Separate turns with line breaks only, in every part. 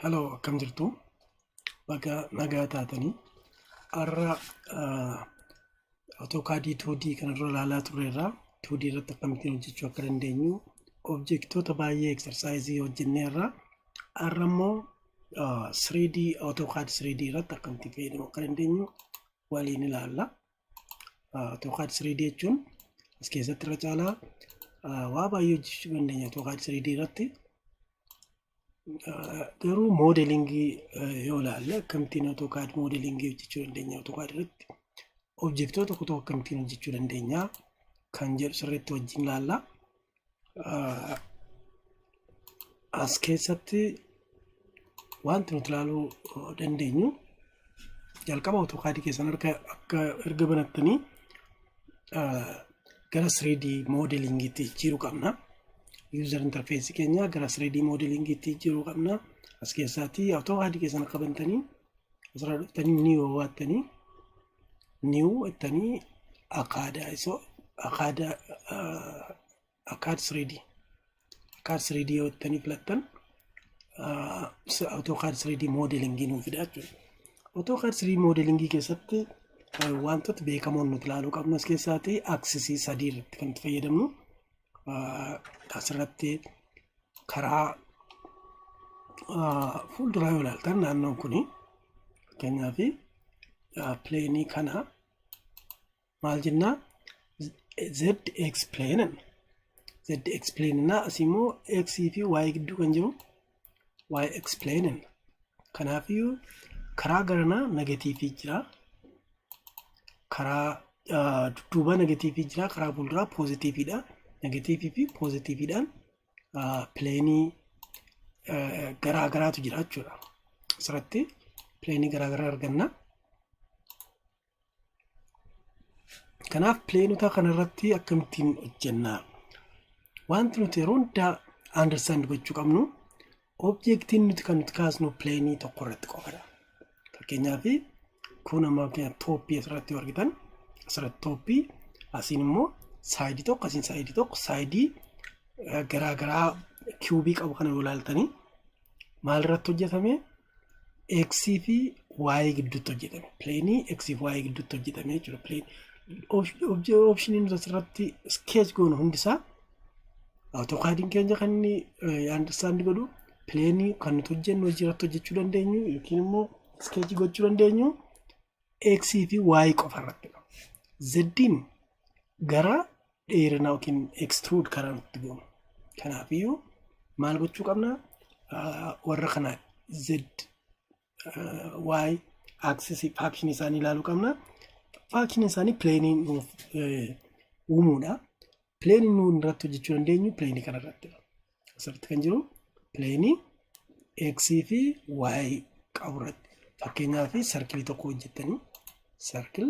Hello, akkam jirtu? Baga nagaa taatanii. Har'a AutoCAD 2D kanarra ilaalaa turreerra. 2D irratti akkamittiin hojjechuu akka dandeenyu objektoota baay'ee eksersaayizii hojjenneerra. Har'a immoo 3D AutoCAD 3D irratti akkamittiin fayyadamuu akka dandeenyu waliin ilaalla. Tookaad 3D jechuun as keessatti irra caalaa waa baay'ee hojjechuu dandeenya Tookaad 3D irratti. Garuu moodelingii yoo ilaalle akkamittiin Tookaad moodelingii hojjechuu dandeenya Tookaad irratti objektoota tokko tokko akkamittiin hojjechuu dandeenya kan jedhu sirriitti wajjin ilaalla. Ah, As keessatti wanti nuti ilaaluu eh, dandeenyu jalqaba AutoCAD keessan harka akka erga banattanii ah, gara 3D modelingiitti jijjiiruu qabna. User interface keenya gara 3D modelingiitti jijjiiruu qabna. As keessatti AutoCAD keessan akka bantanii asirra dhuftanii ni wawattanii new jettanii akaadaa isoo akaadaa akaad 3D akaad 3D yoo jettanii filattan AutoCAD 3D modelingii nuuf fida jechuudha. AutoCAD 3D modelingii keessatti wantoota beekamoon nuti ilaaluu qabnu as keessaati aksisii sadii irratti kan itti fayyadamnu asirratti karaa ah, fuulduraa yoo ilaaltan naannoon kun fakkeenyaaf ah, pileenii kana maal jennaa z x plane z x plane na asii immoo x fi y gidduu kan jiru y x plane kanaafiyyuu karaa garanaa negatiivii jira karaa ah, dudduubaa negatiivii jira karaa fuulduraa poozitiiviidha negatiivii fi poozitiiviidhaan pileenii garaa garaatu jira jechuudha. Asirratti pileenii garaa garaa arganna. Kanaaf pileenota kanarratti akkamittiin hojjenna? Wanti nuti yeroo hundaa understand gochuu qabnu Objektiin nuti kan nuti kaasnu pileenii tokko irratti qofadha. Fakkeenyaaf kun amma fakkeenyaaf tooppii asirratti yoo argitan asirratti tooppii asiin immoo saayidii tokko asiin saayidii tokko saayidii garaa garaa kiubii qabu kana yoo ilaaltanii maal irratti hojjetame x fi y gidduutti hojjetame pileenii x fi y gidduutti hojjetame jechuudha pileenii oopshiniin nuti asirratti skeech goonu hundisaa Awutookaadiin keenya kan inni andarstaandi godhu pileenii kan nuti hojjennu hojii irratti hojjechuu dandeenyu yookiin immoo iskeechii gochuu dandeenyu x fi y qofa irratti dha. Zeddiin gara dheerinaa yookiin extrude karaa nutti goonu. Kanaafiyyuu maal gochuu qabna? Warra kana z y axis faction isaanii ilaaluu qabna. Faction isaanii pleenii nuuf uumuudha. Pleenii nuun irratti hojjechuu dandeenyu pleenii kana irratti. Asirratti kan jiru pleenii x fi y qabu irratti. Fakkeenyaaf sarkilii tokko hojjettanii sarkil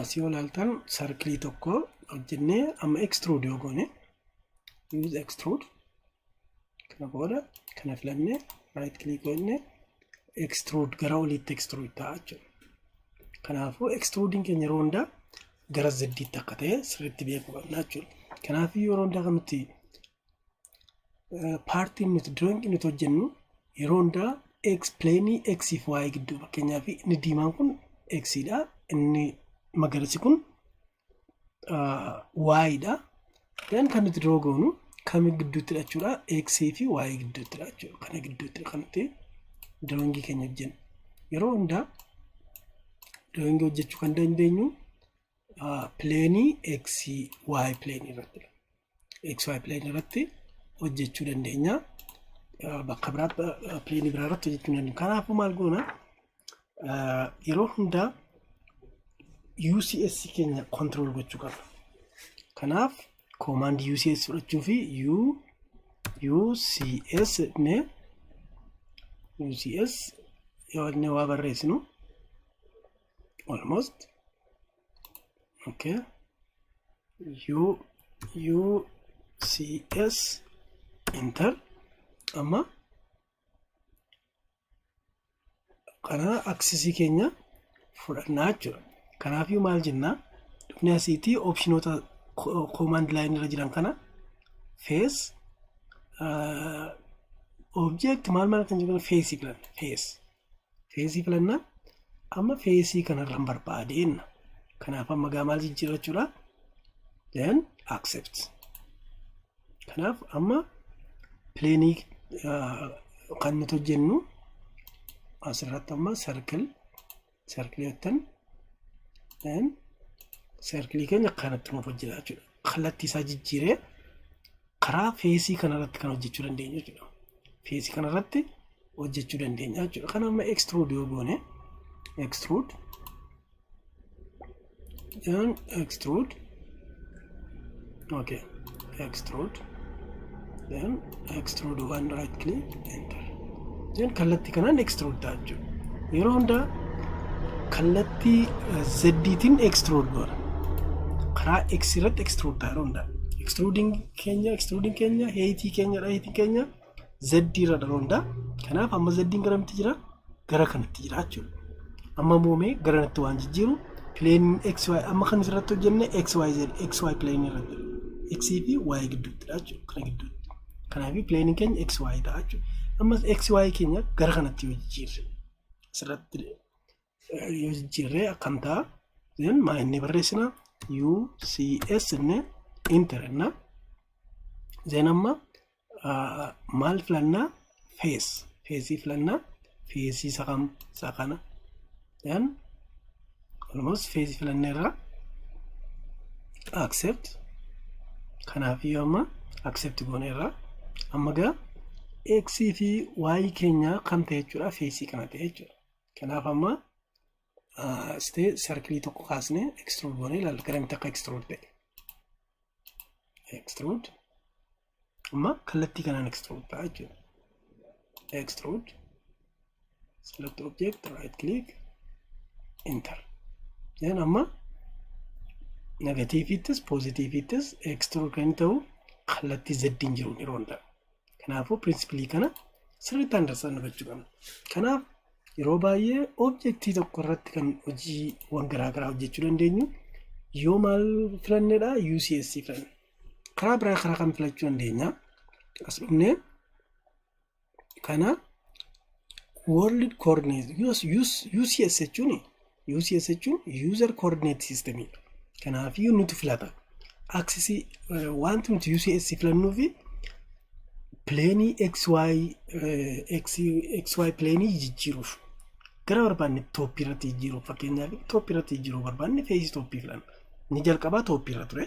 Asii yoo ilaaltan sarkilii tokko hojjennee amma extrude yoo goone use extrude kana booda kana filanne right click goone extrude gara oliitti extrude ta'a jechuudha. Kanaafuu extruding keenya yeroo hundaa gara zeddiitti akka ta'e sirriitti beekuu qabna jechuudha. Kanaafuu yeroo hundaa kan nuti paartiin nuti drawing nuti hojjennu yeroo hundaa x plane x fi y gidduu fakkeenyaaf inni diimaan kun x dha inni magariisi kun y dha then kan nuti draw goonu kami gidduutti jechuudha x fi y gidduutti jechuudha kana gidduutti kan nuti drawing keenya hojjennu yeroo hundaa drawing hojjechuu kan dandeenyu plane x y plane irratti xy plane irratti hojjechuu dandeenya. Eh, Bakka biraatti eh, plane biraa irratti hojjechuu hin dandeenyu. Kanaafuu maal goona? Eh, Yeroo hundaa UCS keenya control gochuu qabna. Kanaaf command UCS fudhachuu fi U UCS ne UCS yoo inni waa barreessinu almost okay u u c s enter amma kana aksisii keenya fudhannaa jechuudha kanaafuu maal jennaa dhufnee asiitii opshinoota koomaand laayin irra jiran kana fees object maal maal kan jiru feesii filanna fees Feesii filannaa. Amma feesii kanarraan barbaade jenna. Kanaaf amma gaa maal jijjiirrachuudha? Then accept. Kanaaf amma pileenii kan nuti hojjennu asirratti amma circle circle jettan then circle keenya kanatti nuuf hojjeta jechuudha. Kallattii isaa jijjiiree karaa feesii kanarratti kan hojjechuu dandeenya jechuudha. Feesii kanarratti hojjechuu dandeenya jechuudha. Kan amma extrude yoo goone extrude then extrude okay extrude then extrude one right click enter Jechuun kallattii kanaan extrude ta'a jechuudha. Yeroo hundaa kallattii zeddiitiin extrude goona. Karaa x irratti extrude ta'a yeroo hundaa. Extruding keenya extruding keenya heeyitii keenya dha heeyitii keenya zeddii irra dha yeroo hundaa. Kanaaf amma zeddiin gara mitti jira gara kanatti jira jechuudha. Amma moomee gara kanatti waan jijjiiru pileeniin xy amma kan irratti hojjenne xyz xy pileenii irratti x fi y gidduutti dha jechuudha kana gidduutti. Kanaaf pileeniin keenya x y ta'a jechuudha. Ammas x y keenya gara kanatti yoo jijjiirre asirratti eh, yoo jijjiirre akkam ta'a? Then maa inni barreessina u c s inni inter inna then amma ah, maal filannaa fees feesii filannaa feesii isa kam isa kana Then almost feezi filanneerra accept kanaaf iyyuu amma accept gooneerra amma gaa x fi y keenya kam ta'e jechuudha feesii kana ta'e jechuudha kanaaf amma stee sarkilii tokko kaasne extrude goonee ilaalla garamitti akka extrude ta'e extrude Amma kallattii kanaan extrude ta'a jechuudha. Extrude, select object, right click, enter. Then amma negatiiviittis poozitiiviittis extrude kan ta'u kallattii zeddiin jiru yeroo hundaa. Kanaafuu pirinsipilii kana sirriitti andarsaa hubachuu qabna. Kanaaf yeroo baay'ee objektii tokko irratti kan hojiiwwan garaagaraa hojjechuu dandeenyu yoo maal filannedha UCS filanne. karaa biraa karaa kam filachuu dandeenya as dhufnee kana world coordinate US, US, UCS jechuun UCS jechuun user coordinate system dha. Kanaaf iyyuu nuti filata. Aksisii wanti nuti UCS filannuu fi pileenii XY eh, X- XY pileenii jijjiiruuf gara barbaanne tooppii irratti jijjiiruuf fakkeenyaaf tooppii irratti jijjiiruuf barbaanne feesii tooppii filanna. Inni jalqabaa tooppii irra ture.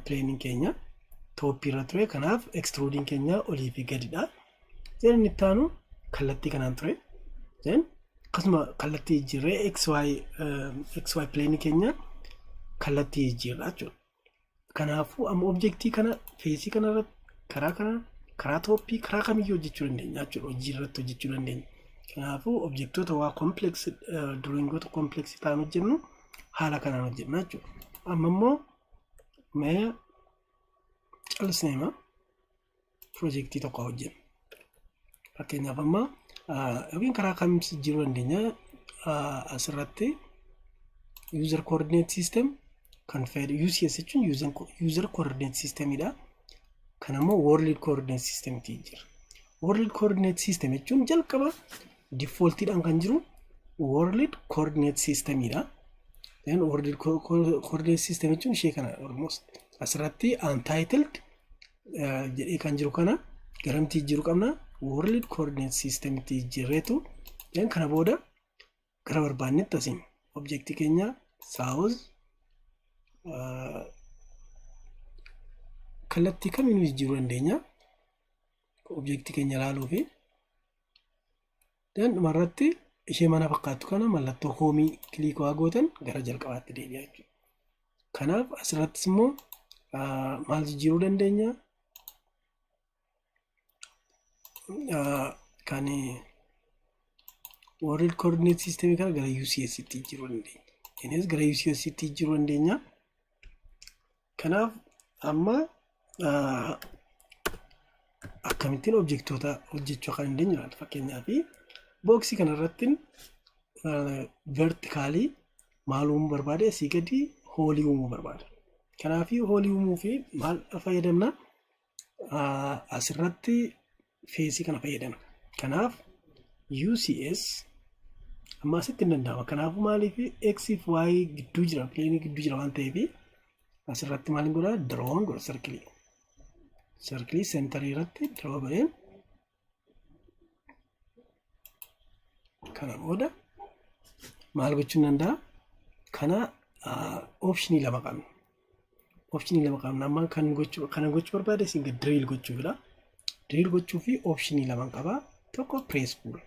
Pileeniin keenya tooppii irra ture. Kanaaf ekstiruudiin keenya olii fi gadidha. Zeen inni itti aanu kallattii kanaan ture. Zeen akkasuma kallattii jijjiirree XY pileenii keenya kallattii jijjiirraa jechuudha. Kanaafuu amma objektii kana feesii kana irratti karaa kana karaa tooppii karaa kamiyyuu hojjechuu dandeenya jechuudha hojii irratti hojjechuu dandeenya. Kanaafuu objektoota waa komplex drawingoota komplex ta'an hojjennu haala kanaan hojjenna jechuudha. Amma immoo mee callisneema pirojektii tokko hojjennu. Fakkeenyaaf amma yookiin karaa kam jijjiiruu dandeenya asirratti user coordinate system kan fayyadu UCS jechuun user coordinate system dha. Kan ammoo world coordinate system ti jira. World coordinate system jechuun jalqaba default dhaan kan jiru world coordinate system dha. Then world coordinate system jechuun ishee kana almost asirratti untitled eh, jedhee kan jiru kana garamti jijjiiru qabna world coordinate system itti jijjiirreetu then kana booda gara barbaannetti asiin objektii keenya south eh, kallattii kamiinuu jijjiiruu dandeenya objektii keenya ilaaluu fi Then dhuma irratti ishee mana fakkaattu kana mallattoo hoomii kiliikii waa gootan gara jalqabaatti deebi'a jechuudha. Kanaaf asirrattis immoo ah, maal jijjiiruu dandeenya? Ah, Kan World Coordinate System kana gara UCS tti jijjiiruu dandeenya. Innis gara UCS tti jijjiiruu dandeenya. Kanaaf amma akkamittiin objektoota hojjechuu akka dandeenyu ilaalla. Fakkeenyaaf booksii kanarratti vertikaalii maal uumuu barbaade asii gadi hoolii uumuu barbaada. Kanaaf hoolii uumuu fi maal fayyadamna? asirratti feesii kana fayyadama. Kanaaf UCS amma asitti hin danda'ama. Kanaafuu maaliif X fi Y gidduu jira, pileenii gidduu jira waan ta'eef asirratti maal godha? Diroon godha sarkilii. Sarkilii seentarii irratti diroo godheen kana booda maal gochuun danda'a kana optionii lama qabna optionii lama qabna amma kan gochuu kana gochuu barbaade isin diriil gochuufidha diriil gochuu fi optionii lama qaba tokko press pull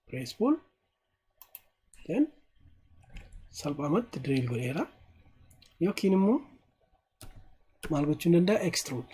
press pull then salphaamatti diriil godheera yookiin immoo maal gochuun danda'a extrude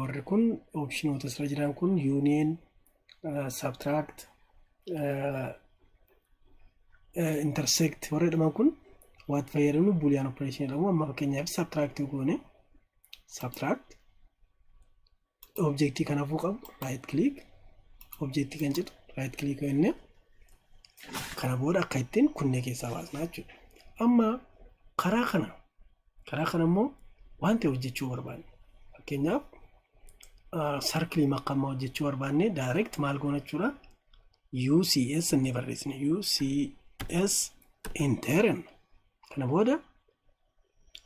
warri kun opshinoota asirra jiran kun union, subtract, intersect warri jedhaman kun waan fayyadamnu boolean operation jedhamu amma fakkeenyaaf subtract goone subtract objectii kanaafuu qabu right click objectii kan jedhu right click jennee kana booda akka ittiin kunnee keessaa baasnaa jechuudha amma karaa kana Karaa kana immoo waan ta'e hojjechuu barbaanne. Fakkeenyaaf sarkilii makkammaa hojjechuu barbaanne direct maal goona jechuudha. UCS inni barreessine UCS intern kana booda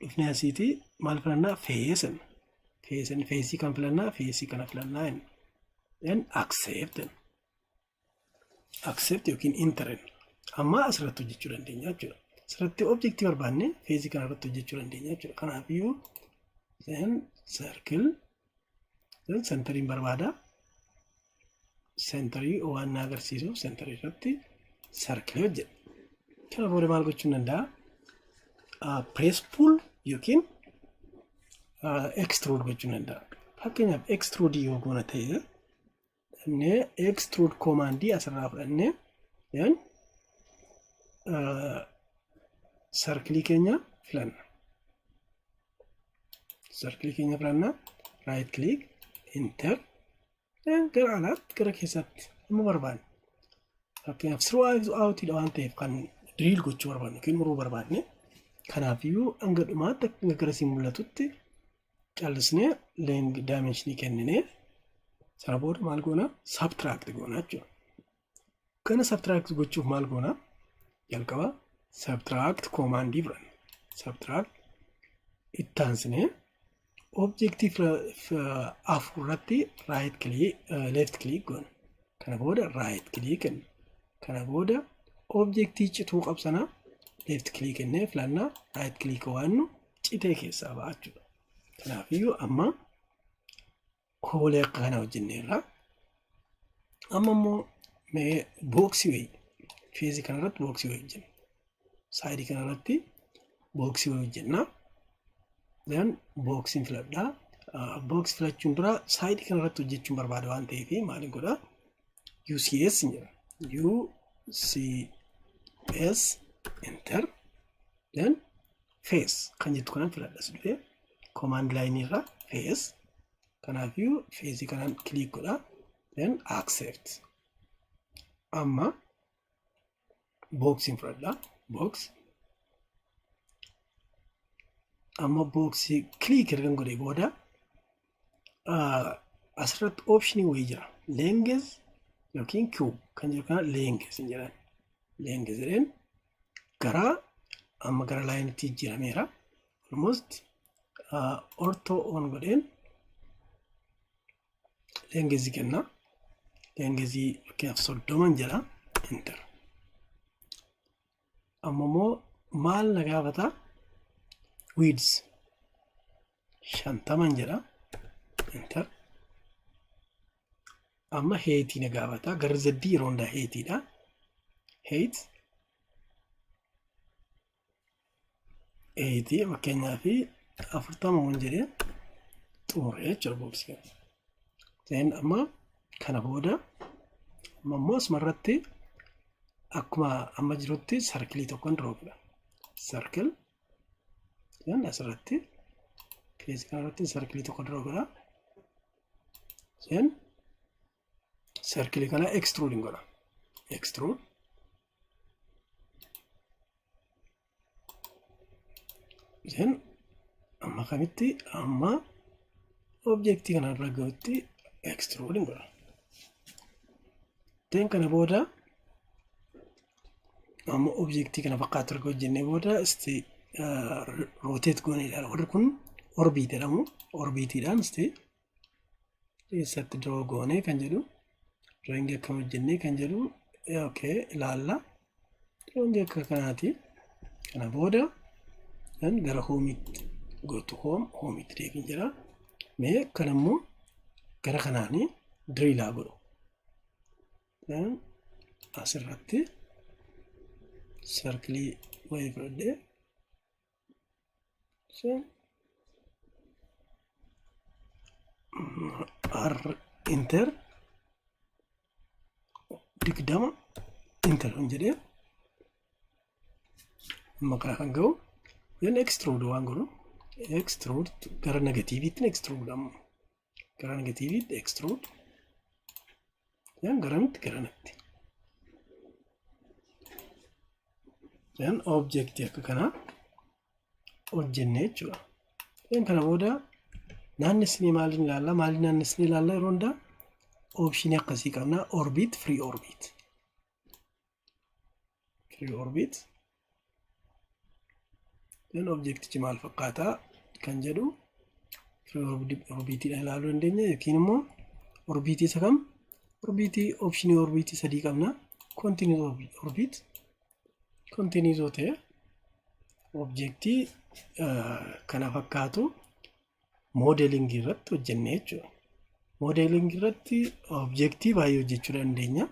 dhufnee asiitii maal filannaa feesan feesan feesii kan filannaa feesii kana filannaa hin then accept accept yookiin enter amma asirratti hojjechuu dandeenya jechuudha. Asirratti objektii barbaanne feezii kana irratti hojjechuu dandeenya jechuudha. Kanaaf iyyuu then circle then centeriin barbaada. Centerii waan na agarsiisu centerii irratti circle hojjedha. Kana booda maal gochuu danda'a? Press pull yookiin extrude gochuu danda'a. Fakkeenyaaf extrude yoo goona ta'e fudhannee extrude command asirraa fudhannee then sarkilii keenya filanna. Sarkilii keenya filanna right click enter then gara alaatti gara keessaatti amma barbaanne. Fakkeenyaaf siruu outidha waan ta'eef kan diriil gochuu barbaanne yookiin muruu barbaanne. Kanaafiyyuu hanga dhumaatti akka gara siin mul'atutti callisnee length dimension kenninee sana booda maal goona subtract goona jechuudha. Kana subtract gochuuf maal goona jalqaba subtract command fudhanna. Subtract itti aansinee objective afur irratti right click left click goona. Kana booda right click kenna. Kana booda objectii cituu qabsana left click kennee filannaa right click waannu citee keessaa ba'a jechuudha. Kanaafiyyuu amma koolee akka kana hojjenneerra. Amma immoo mee booksii wayii feezii kana irratti booksii wayii hojjenna. Saayidii kana irratti booksii wayii hojjenna. Then booksiin filadhaa. Booksii filachuun dura saayidii kana irratti hojjechuun barbaada waan ta'eef maal godhaa? UCS hin jedha. UCS enter then fees kan jettu kanan filadhas dhufe komaand laayinii irraa fees kanaafiyyuu feesii kanaan kiliik godha then accept amma booksiin fudhadha books amma booksii kiliik ergan godhe booda asirratti optionii wayii jira length yookiin cube kan jiru kana length hin jedhan length jedheen garaa amma gara laayinitti jijjiirameera almost ortoo on godheen lengezii kenna lengezii fakkeenyaaf soddoman jedha enter amma immoo maal na gaafata width shantaman jedha enter amma heetii na gaafata garri zeddii yeroo hundaa heetiidha heet eeyitii fakkeenyaa fi afurtama waan jedhee xumure jechuudha booksii kana. Ta'in amma kana booda ammoo asuma irratti akkuma amma jirutti sarkilii tokkoon roobna. Sarkil jedhan asirratti keessa kanarratti sarkilii tokko roobna. Jedhan sarkilii kana extrude godha. Extrude Then amma kamitti amma objektii kana irra gahutti extrude hin godha. Then kana booda amma objektii kana fakkaatu erga hojjennee booda isti rotate goonee ilaala. Warri kun orbiit jedhamu. Orbiitiidhaan isti eessatti doo goonee kan jedhu rangi akka hojjennee kan jedhu ok ilaalla rangi akka kanaati kana booda kan gara hoomiitti gootu hoom hoomiitti deebiin jira mee kan ammoo gara kanaanii diriilaa godhu asirratti sarkilii wayii fudhadhee Ishee r inter digdama inter hin jedhee amma kana kan ga'u then extrude waan godhu extrude gara negatiiviitti extrude amma gara negatiiviitti extrude then garamitti garanatti then object akka kanaa hojjenne jechuudha then kana booda naannessinee maaliin ilaalla maaliin naannessinee ilaalla yeroo hundaa opshinii akkasii qabna orbit free orbit free orbit then objectichi maal fakkaata kan jedhu free orbitii ilaaluu dandeenya yookiin immoo orbitii isa kam orbitii optionii orbitii sadii qabna continuous orbit continuous yoo ta'e objectii kana fakkaatu moodeelingii irratti hojjenne jechuudha. Moodeelingii irratti objektii baay'ee hojjechuu dandeenya.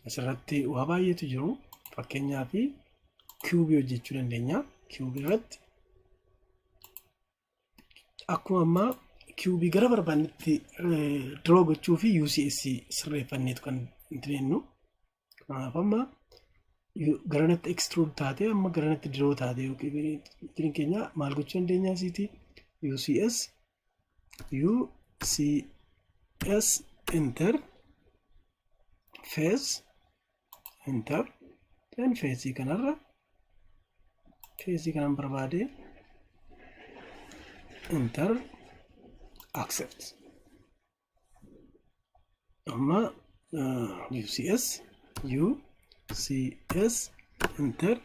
Asirratti waa baay'eetu jiru. Fakkeenyaaf kiwubii hojjechuu dandeenya. Kiwubii irratti akkuma ammaa kiwubii gara barbaannetti diroo gochuu fi UCS sirreeffanneetu kan jennu. Kanaaf amma garanatti extrude taatee amma garanatti diroo taatee yookiin keenya maal gochuu dandeenya asiiti UCS UCS enter face enter then face kanarra face kanan barbaade enter accept amma ucs ucs enter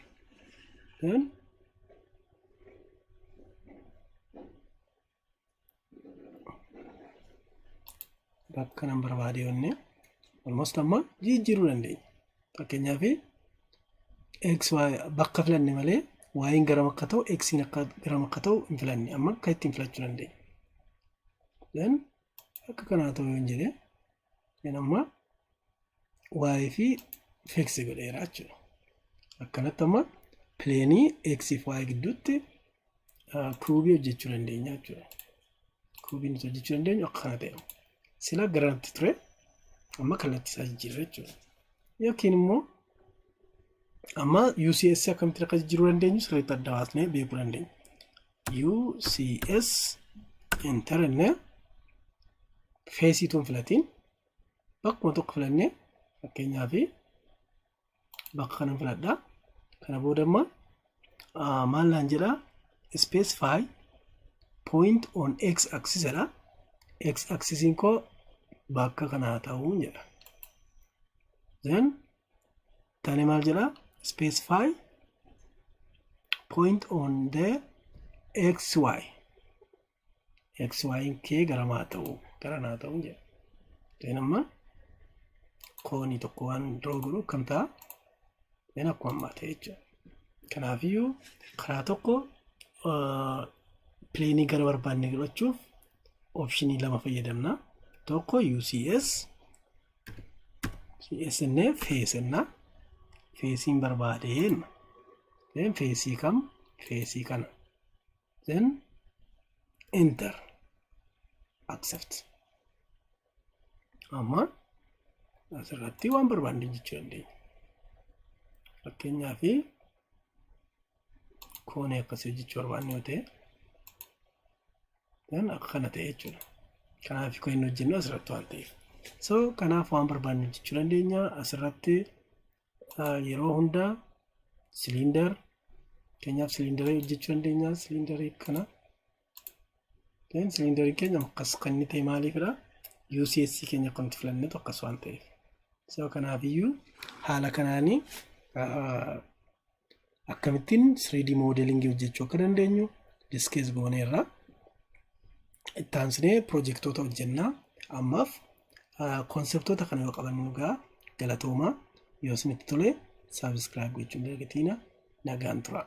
then bakka nan barbaade yonne almost amma jijjiiruu dandeenya fakkeenyaaf x bakka filanne malee waayiin garam akka ta'u xiin akka garam akka ta'u hin filanne amma akka ittiin filachuu dandeenya then akka kanaa ta'u yoon jedhe then amma y fi fix godheera jechuudha akkanatti amma pileenii x fi y gidduutti kuubii hojjechuu dandeenya jechuudha kuubii nuti hojjechuu dandeenyu akka kana ta'e sila garanti ture amma kallattii isaa jijjiirra jechuudha yookiin immoo amma UCS akkamitti akka jijjiiruu dandeenyu sirriitti adda baasnee beekuu dandeenya. UCS enter jennee feesiituun filatiin bakkuma tokko filannee fakkeenyaaf bakka kanan filadha. Kana booda amma maal naan jedha specify point on x axis jedha. X axisiin koo bakka kana haa ta'uu jedha. Then Tani maal jedha? Specify point on the xy. xy kee gara maa ta'u gara naa ta'u jedha. Then amma koonii tokko waan draw godhu akkam ta'a? Then akkuma ammaa ta'e jechuudha. Kanaafiyyuu karaa tokko pileenii gara barbaanne godhachuuf opshinii lama fayyadamna. Tokko UCS CS innee fees innaa feesiin barbaade jenna. Then feesii kam feesii kana. Then enter accept. Amma asirratti waan barbaanne jechuu dandeenya. Fakkeenyaaf koonee akkasii hojjechuu barbaanne yoo ta'e kan akka kana ta'e jechuudha. Kanaaf kan inni hojjennu asirratti waan ta'eef. So kanaaf waan barbaanne hojjechuu dandeenya asirratti yeroo hundaa siliindar keenyaaf siliindarii hojjechuu dandeenya siliindarii kana Then siliindarii keenya akkas kan inni ta'e maaliifidha? UCS keenya kan nuti filanne tokko akkas waan ta'eef. So kanaafiyyuu haala kanaanii akkamittiin 3D moodelingii hojjechuu akka dandeenyu diskees gooneerra. Itti aansinee pirojektoota hojjennaa ammaaf konseptoota kana yoo qabannu dhugaa galatoomaa yoo isinitti tole saabskraayib gochuun dagatiina nagaan turaa.